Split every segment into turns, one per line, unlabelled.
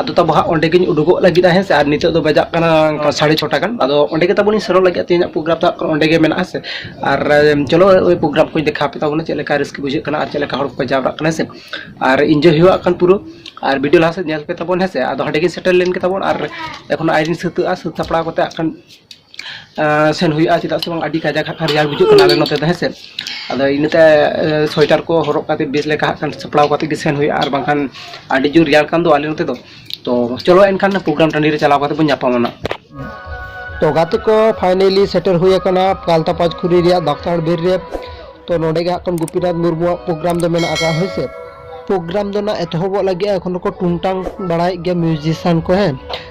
ᱟᱫᱚ ᱛᱟᱵᱚ ᱦᱟᱸᱜ ᱚᱸᱰᱮ ᱜᱤᱧ ᱩᱰᱩᱠᱚᱜ ᱞᱟᱹᱜᱤᱫ ᱦᱮᱸ ᱥᱮ ᱟᱨ ᱱᱤᱛᱚᱜ ᱫᱚ ᱵᱟᱡᱟᱜ ᱠᱟᱱᱟ ᱥᱟᱲᱮ ᱪᱷᱚᱴᱟ ᱜᱟᱱ ᱟᱫᱚ ᱚᱸᱰᱮ ᱜᱮ ᱛᱟᱵᱚᱱᱤᱧ ᱥᱮᱱᱚᱜ ᱞᱟᱹᱜᱤᱫ ᱛᱮᱦᱮᱧᱟᱜ ᱯᱨᱳᱜᱨᱟᱢ ᱫᱚ ᱦᱟᱸᱜ ᱚᱸᱰᱮ ᱜᱮ ᱢᱮᱱᱟᱜᱼᱟ ᱦᱮᱸ ᱥᱮ ᱟᱨ ᱪᱚᱞᱚ ᱳᱭ ᱯᱨᱳᱜᱨᱟᱢ ᱠᱚᱧ ᱫᱮᱠᱷᱟᱣ ᱟᱯᱮ ᱛᱟᱵᱚᱱᱟ ᱪᱮᱫ ᱞᱮᱠᱟ ᱨᱟᱹᱥᱠᱟᱹ ᱵᱩᱡᱷᱟᱹᱜ ᱠᱟᱱᱟ ᱟᱨ ᱪᱮᱫ ᱞᱮᱠᱟ ᱦᱚᱲ ᱠᱚᱠᱚ ᱡᱟᱣᱨᱟᱜ ᱠᱟᱱᱟ ᱦᱮᱸ ᱥᱮ ᱟᱨ ᱤᱱᱡᱚᱭ ᱦᱩᱭᱩᱜᱼᱟ ᱠᱷᱟᱱ ᱯᱩᱨᱟᱹ ᱟᱨ ᱵᱷᱤᱰᱤᱭᱳ ᱞᱟᱦᱟ ᱥᱮᱫ ᱧᱮᱞ ᱯᱮ ᱛᱟᱵᱚᱱ ᱦᱮᱸ ᱥᱮ ᱟᱫᱚ ᱦᱟᱸᱰᱮ ᱜᱮ ᱥᱮᱴᱮᱨ ᱞᱮᱱ ᱜᱮ ᱛᱟᱵᱚᱱ ᱟᱨ ᱮᱠᱷᱚᱱ ᱟᱭᱨᱤᱧ ᱥᱟᱹᱛᱟᱹᱜᱼᱟ ᱥᱟᱹᱛ ᱥᱟᱯᱲᱟᱣ ᱠᱟᱛᱮ ᱦᱟᱸᱜ ᱠᱷᱟᱱ ᱥᱮᱱ ᱦᱩᱭᱩᱜᱼᱟ ᱪᱮᱫᱟᱜ ᱥᱮ ᱵᱟᱝ ᱟᱹᱰᱤ ᱠᱟᱡᱟᱠ ᱦᱟᱸᱜ ᱠᱷᱟᱱ ᱨᱮᱭᱟᱲ ᱵᱩᱡᱷᱟᱹᱜ ᱠᱟᱱᱟ ᱟᱞᱮ ᱱᱚᱛᱮ ᱫᱚ ᱦᱮᱸ ᱥᱮ ᱟᱫᱚ ᱤᱱᱟᱹᱛᱮ ᱥᱳᱭᱮᱴᱟᱨ ᱠᱚ ᱦᱚᱨᱚᱜ ᱠᱟᱛᱮᱫ ᱵᱮᱥ ᱞᱮᱠᱟ ᱦᱟᱸᱜ ᱠᱷᱟᱱ ᱥᱟᱯᱲᱟᱣ ᱠᱟᱛᱮᱫ ᱜᱮ ᱥᱮᱱ ᱦᱩᱭᱩᱜᱼᱟ ᱟᱨ ᱵᱟᱝᱠᱷᱟᱱ ᱟᱹᱰᱤ ᱡᱳᱨ ᱨᱮᱭᱟᱲ ᱠᱟᱱ ᱫᱚ ᱟᱞᱮ ᱱᱚᱛᱮ ᱫᱚ ᱛᱚ ᱪᱚᱞᱚ ᱮᱱᱠᱷᱟᱱ ᱯᱨᱳᱜᱨᱟᱢ ᱴᱟᱺᱰᱤ ᱨᱮ ᱪᱟᱞᱟᱣ ᱠᱟᱛᱮᱫ ᱵᱚᱱ ᱧᱟᱯᱟᱢᱟ ᱱᱟᱜ ᱛᱚ ᱜᱟᱛᱮ ᱠᱚ ᱯᱷᱟᱭᱱᱮᱞᱤ ᱥᱮᱴᱮᱨ ᱦᱩᱭ ᱟᱠᱟᱱᱟ ᱯᱟᱞᱛᱟ ᱯᱟᱸᱪᱠᱷᱩᱨᱤ ᱨᱮᱭᱟᱜ ᱫᱟᱠᱛᱟᱲ ᱵᱤᱨ ᱨᱮ ᱛᱚ ᱱᱚᱰᱮ ᱜᱮ ᱦᱟᱸᱜ ᱠᱷᱟᱱ ᱜᱩᱯᱤᱱᱟᱛᱷ ᱢᱩᱨᱢᱩᱣᱟᱜ ᱯᱨᱳᱜᱨᱟᱢ ᱫᱚ ᱢᱮᱱᱟᱜ ᱟᱠᱟᱫᱼᱟ ᱦᱳᱭ ᱥᱮ ᱯᱨᱳᱜᱨᱟᱢ ᱫᱚ ᱱᱟᱜ ᱮᱛᱚᱦᱚᱵᱚᱜ ᱞᱟᱹᱜᱤᱫ ᱮᱠᱷᱚᱱ ᱫᱚᱠᱚ ᱴᱩᱝᱴᱟᱝ ᱵᱟᱲᱟᱭᱮᱫ ᱜᱮᱭᱟ ᱢᱤᱭᱩᱡᱤᱥᱤᱭᱟᱱ ᱠᱚ ᱦᱮᱸ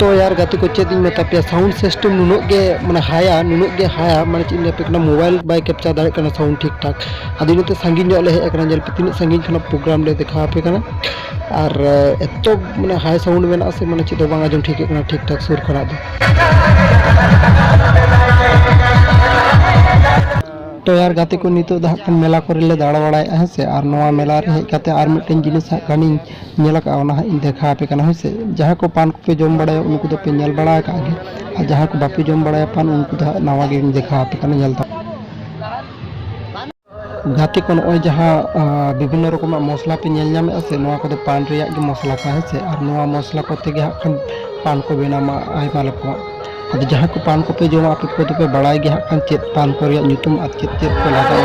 ᱛᱚ ᱭᱟᱨ ᱜᱟᱛᱮ ᱠᱚ ᱪᱮᱫ ᱤᱧ ᱢᱮᱛᱟ ᱯᱮᱭᱟ ᱥᱟᱣᱩᱱᱰ ᱥᱤᱥᱴᱮᱢ ᱱᱩᱱᱟᱹᱜ ᱜᱮ ᱢᱟᱱᱮ ᱦᱟᱭᱟ ᱱᱩᱱᱟᱹᱜ ᱜᱮ ᱦᱟᱭᱟ ᱢᱟᱱᱮ ᱪᱮᱫ ᱤᱧ ᱞᱟᱹᱭ ᱟᱯᱮ ᱠᱟᱱᱟ ᱢᱳᱵᱟᱭᱤᱞ ᱵᱟᱭ ᱠᱮᱯᱪᱟᱨ ᱫᱟᱲᱮᱭᱟᱜ ᱠᱟᱱᱟ ᱥᱟᱣᱩᱱᱰ ᱴᱷᱤᱠ ᱴᱷᱟᱠ ᱟᱫᱚ ᱤᱱᱟᱹᱛᱮ ᱥᱟᱺᱜᱤᱧ ᱧᱚᱜ ᱞᱮ ᱦᱮᱡ ᱟᱠᱟᱱᱟ ᱧᱮᱞ ᱯᱮ ᱛᱤᱱᱟᱹᱜ ᱥᱟᱺᱜᱤᱧ ᱠᱷᱚᱱᱟᱜ ᱯᱨᱳᱜᱨᱟᱢ ᱞᱮ ᱫᱮᱠᱷᱟᱣ ᱟᱯᱮ ᱠᱟᱱᱟ ᱟᱨ ᱮᱛᱚ ᱢᱟᱱᱮ ᱦᱟᱭ ᱥᱟᱣᱩᱱᱰ ᱢᱮᱱᱟᱜᱼᱟ ᱥᱮ ᱢᱟᱱᱮ ᱪᱮᱫ ᱦᱚᱸ ᱵᱟᱝ ᱟᱸᱡᱚᱢ ᱴᱷᱤᱠᱟᱹᱜ ᱠᱟᱱᱟ ᱴᱷᱤᱠ ᱴᱷᱟᱠ ᱥᱩᱨ ᱠᱷᱚᱱᱟᱜ ᱫᱚ ᱛᱚ ᱭᱟᱨ ᱜᱟᱛᱮ ᱠᱚ ᱱᱤᱛᱚᱜ ᱫᱚ ᱦᱟᱸᱜ ᱠᱷᱟᱱ ᱢᱮᱞᱟ ᱠᱚᱨᱮ ᱞᱮ ᱫᱟᱬᱟ ᱵᱟᱲᱟᱭᱮᱫᱼᱟ ᱦᱮᱸ ᱥᱮ ᱟᱨ ᱱᱚᱣᱟ ᱢᱮᱞᱟ ᱨᱮ ᱦᱮᱡ ᱠᱟᱛᱮ ᱟᱨ ᱢᱤᱫᱴᱮᱱ ᱡᱤᱱᱤᱥ ᱦᱟᱸᱜ ᱠᱷᱟᱱᱤᱧ ᱧᱮᱞ ᱟᱠᱟᱫᱼᱟ ᱚᱱᱟ ᱦᱟᱸᱜ ᱤᱧ ᱫᱮᱠᱷᱟᱣ ᱟᱯᱮ ᱠᱟᱱᱟ ᱦᱳᱭ ᱥᱮ ᱡᱟᱦᱟᱸ ᱠᱚ ᱯᱟᱱ ᱠᱚᱯᱮ ᱡᱚᱢ ᱵᱟᱲᱟᱭᱟ ᱩᱱᱠᱩ ᱫᱚᱯᱮ ᱧᱮᱞ ᱵᱟᱲᱟ ᱟᱠᱟᱫ ᱜᱮ ᱟᱨ ᱡᱟᱦᱟᱸ ᱠᱚ ᱵᱟᱯᱮ ᱡᱚᱢ ᱵᱟᱲᱟᱭᱟ ᱯᱟᱱ ᱩᱱᱠᱩ ᱫᱚ ᱦᱟᱸᱜ ᱱᱟᱣᱟ ᱜᱮᱧ ᱫᱮᱠᱷᱟᱣ ᱟᱯᱮ ᱠᱟᱱᱟ ᱧᱮᱞ ᱛᱟᱯᱮ ᱜᱟᱛᱮ ᱠᱚ ᱱᱚᱜᱼᱚᱭ ᱡᱟᱦᱟᱸ ᱵᱤᱵᱷᱤᱱᱱᱚ ᱨᱚᱠᱚᱢᱟᱜ ᱢᱚᱥᱞᱟ ᱯᱮ ᱧᱮᱞ ᱧᱟᱢᱮᱫᱼᱟ ᱥᱮ ᱱᱚᱣᱟ ᱠᱚᱫᱚ ᱯᱟᱱ ᱨᱮᱭᱟᱜ ᱜᱮ ᱢᱚᱥᱞᱟ ᱠᱟᱱᱟ ᱦᱮᱸ ᱥᱮ ᱟᱨ ᱱᱚᱣᱟ ᱢᱚᱥᱞᱟ ᱠᱚᱛᱮ ᱜᱮ ᱦᱟᱸᱜ ᱠᱷᱟᱱ ᱯᱟᱱ ᱠᱚ ᱵᱮᱱᱟᱣᱟ ᱟᱭᱢᱟ ᱨᱚᱠᱚᱢᱟᱜ ᱟᱫᱚ ᱡᱟᱦᱟᱸ ᱠᱚ ᱯᱟᱱ ᱠᱚᱯᱮ ᱡᱚᱢᱟ ᱟᱯᱮ ᱠᱚᱫᱚ ᱯᱮ ᱵᱟᱲᱟᱭ ᱜᱮᱭᱟ ᱦᱟᱸᱜ ᱠᱷᱟᱱ ᱪᱮᱫ ᱯᱟᱱ ᱠᱚ ᱨᱮᱭᱟᱜ ᱧᱩᱛᱩᱢ ᱟᱨ ᱪᱮᱫ ᱪᱮᱫ ᱠᱚ ᱞᱟᱜᱟᱣᱟ